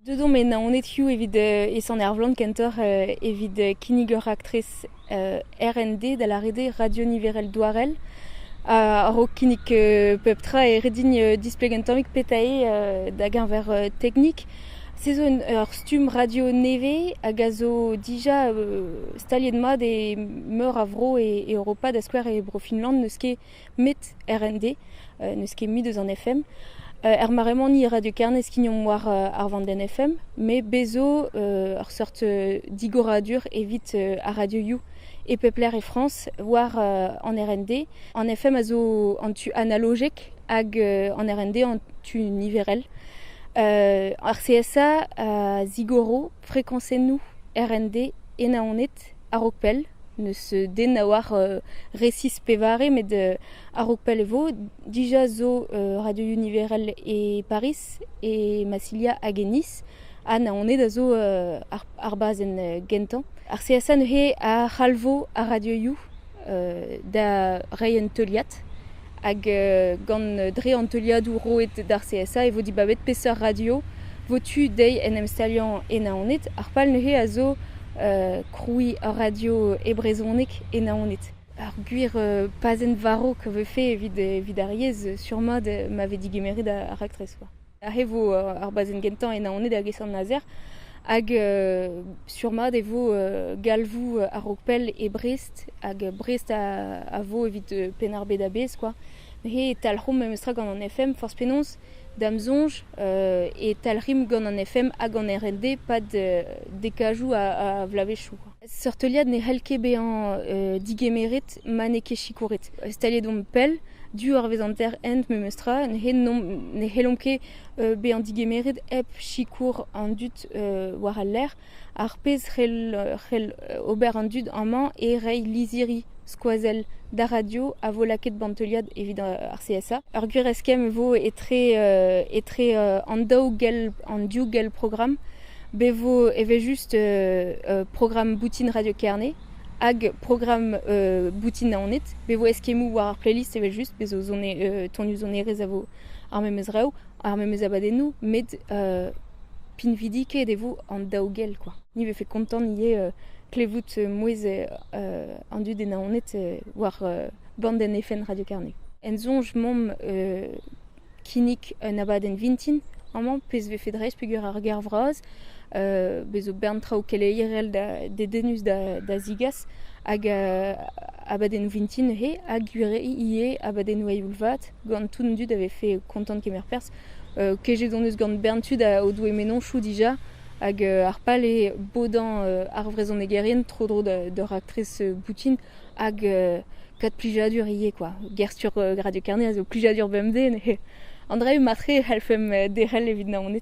Deuet omp e Naonedioù evit e Sant-Ervlan kentoc'h evit kinnig ur raktres RND da lâret eo radio niverel douarel. A-raok kinnig pep tra e ret din displegañ un tammig petra eo da-geñver teknik. Se zo ur stumm radio nevez hag a zo dija staliet mat e meur a vro e Europa da skouer e Bro-Finland n'eus ket met RND, n'eus ket mui deus an FM. er mare-mañ ni Radio Kerne skignomp war ar vandenn FM, met bez zo ur seurt digoradur evit ar Radio You e pep lec'h e Frañs, war an RND. An FM a zo an tu analogek hag an RND an tu niverel. ar CSA a zigoro frekañsennoù RND e Naoned a-raok pell. N'eus den a oar resis pevare met a-raok pell e vo. Dija zo radioioù niverel e Pariz, e Massilia hag e Nice. Ha Naoned a zo ar bazenn gentañ. Ar CSA neuze a c'halvo ar radioioù. da reiñ un teuliad hag gant dre an teuliadoù roet d'ar CSA e vo dibabet peseurt radio vo tu dezhi en em staliañ e Naoned ar pal neuze a zo krouiñ ur radio e brezhoneg e Naoned. Ar gwir pazenn varv a vefe evit ar yezh sûrement ma vez digemeret ar raktres. Aze vo ar bazenn gentañ e Naoned hag e Sant-Nazer. Hag sur-mat e vo galvoù a-raok pell e Brest. Hag Brest a vo evit Penn-ar-Bed a-bezh kwa. Neuze e talc'homp memestra gant an FM forzh penaos, da'm soñj, e talc'himp gant an FM ha gant RND 'pad dekajoù a vloavezhioù kwa. Seurt teuliad ne c'hell ket bezañ digemeret ma n'eo ket sikouret. Staliet omp pell, du horvez an ter-hent memestra, ne c'hellomp ket bezañ digemeret hep sikour an dud war al lec'h, ar pezh c'hell ober an dud amañ eo reiñ lizhiri skoazell d'ar radio a vo lakaet ba'n teuliad evit ar CSA. Ur gwir eskemm e vo etre an daou gell, an div gell programm. Bevo evel-just programm boutin Radio Kerne hag programm boutin Naoned. Bevo eskemmoù war ar playlist evel-just, bez' zo tonioù sonerezh a vo ar memes rev, ar memes abadennoù, met pinvidikaet e vo an daou gell kwa. Ni 'vefe kontant ivez klevout mouezh an dud e Naoned war band en FN Radio Kerne. En soñj 'mamp kinnig un abadenn vintin amañ pezh 'vefe dreist peger ur gêr vras bez' zo bern traoù keleierel da dedennus da zigas hag abadennoù vintin neuze ha gwir ivez abadennoù eil vat gant tout an dud a vefe kontant kemer perzh kejet hon eus gant bern tud o doe mennozhioù dija hag ar pal eo bodañ ar vrezhonegerien tro-dro d'ur raktres boutin hag gant plijadur ivez kwa. Ger-stur Radio Kerne a zo plijadur bemdez, an dra-se matre e c'hellfemp derc'hel evit Naoned.